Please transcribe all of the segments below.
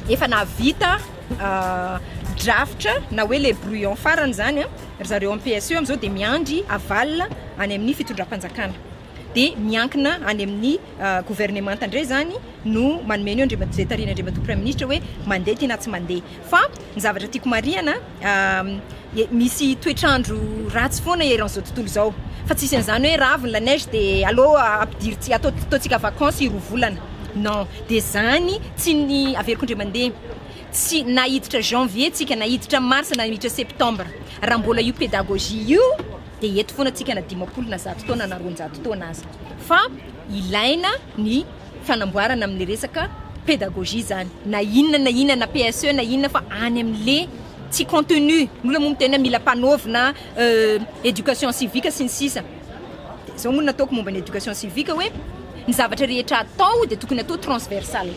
efa nahavita ah, drafitra na hoe le brouillon farany zany ry zareo en PSE amizao dia miandry aval any amin'ny fitondram-panjakana dia miankina any amin'ny governemanta indray izany no manome ny eo izay tarihina Andriamatoa Praiminisitra hoe mandeha ty na tsy mandeha. Fa ny zavatra tiako marihana, misy toetr'andro ratsy foana eran'izao tontolo izao. Fa tsy hisy an'izany hoe ravo ny la neige dia aleo ampidiry tsy, atao, ataontsika vakansy roa volana. Non. Dia izany tsy ny, averiko indray mandeha, tsy, na hiditra janvier tsika na hiditra mars na miditra septembre, raha mbola io pédagogie io, dia eto foana tsika na dimampolo na zato taona na roanjato taona aza fa ilaina ny fanamboarana amle resaka pédagogie zany na inona na inona na PSE na inona fa any amle tsy contenu nolo moa miteny mila mpanaovina éducation civique sy ny sisa de zao moa nataoko momba ny éducation civique hoe ny zavatra rehetra atao de tokony atao transversal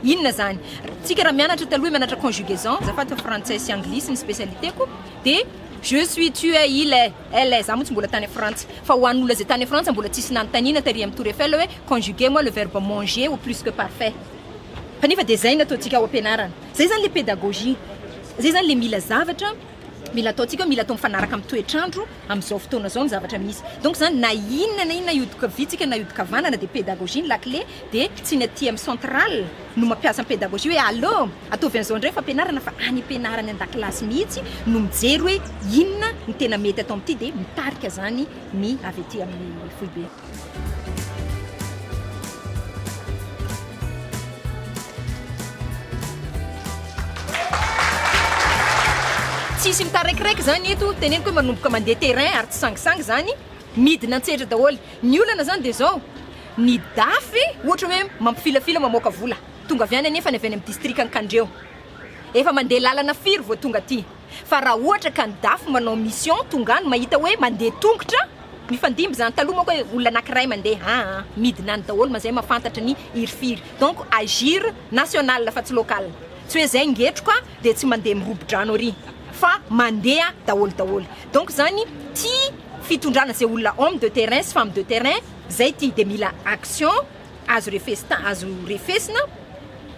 inona zany tsika raha mianatra taloha mianatra conjugaison azafady fa frantsay sy anglisy ny spécialité ko de je suis tu es il est elle est za moa tsy mbola tany frantsa fa ho an'olona zay tany frantsa mbola tsisy nanontaniana tary amin'ny tour Eiffel hoe conjuguer moi le verbe manger au plus que parfait kanefa de zay no ataontsika ao am-pianarana zay zany le pédagogie zay zany le mila zavatra mila ataontsika hoe mila atao mifanaraka amin'ny toetr'andro amin'izao fotoana izao ny zavatra misy donc zany na inona na inona hiodin-kaviantsika na hiodin-kavanana de pédagogie ny lakile de tsy ny aty amin'ny centrale no mampiasa ny pédagogie hoe allo Ataovy an'izao indray fampianarana fa any am-pianarana an-dakilasy mihitsy no mijery hoe inona no tena mety atao amin'ity dia mitarika izany ny avy ety amin'ny foibe. Tsy hisy mitaraikiraiky izany eto, teneniko hoe manomboka mandeha terrain ary tsy sangisangy izany, midina an-tsehatra daholo. Ny olana izany dia izao, ny dafy ohatra hoe mampifilafila mamoaka vola. Tonga avy any anefa ny avy any amin'ny distrikan'i Kandreho. Efa mandeha lalana firy vao tonga aty? Fa raha ohatra ka ny dafy manao mission tonga any mahita hoe mandeha tongotra, mifandimby izany. Taloha manko hoe olona anankiray mandeha an! midina any daholo mazay mahafantatra ny hirifiry. Donc agir national fa tsy local. Tsy hoe izay ngetroka dia tsy mandeha mirobo-drano ary. Fa mandeha daholo daholo. Donc izany tia fitondrana izay olona homme de terrain sy femme de terrain izay ity dia mila action. azo refesita azo refesina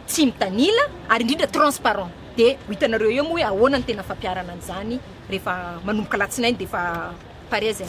tsy mitanila ary indrindra transparent de ho hitanareo eo moa hoe ahoana ny tena fampiarana an'izany rehefa manomboka latsinainy dia efa pare zay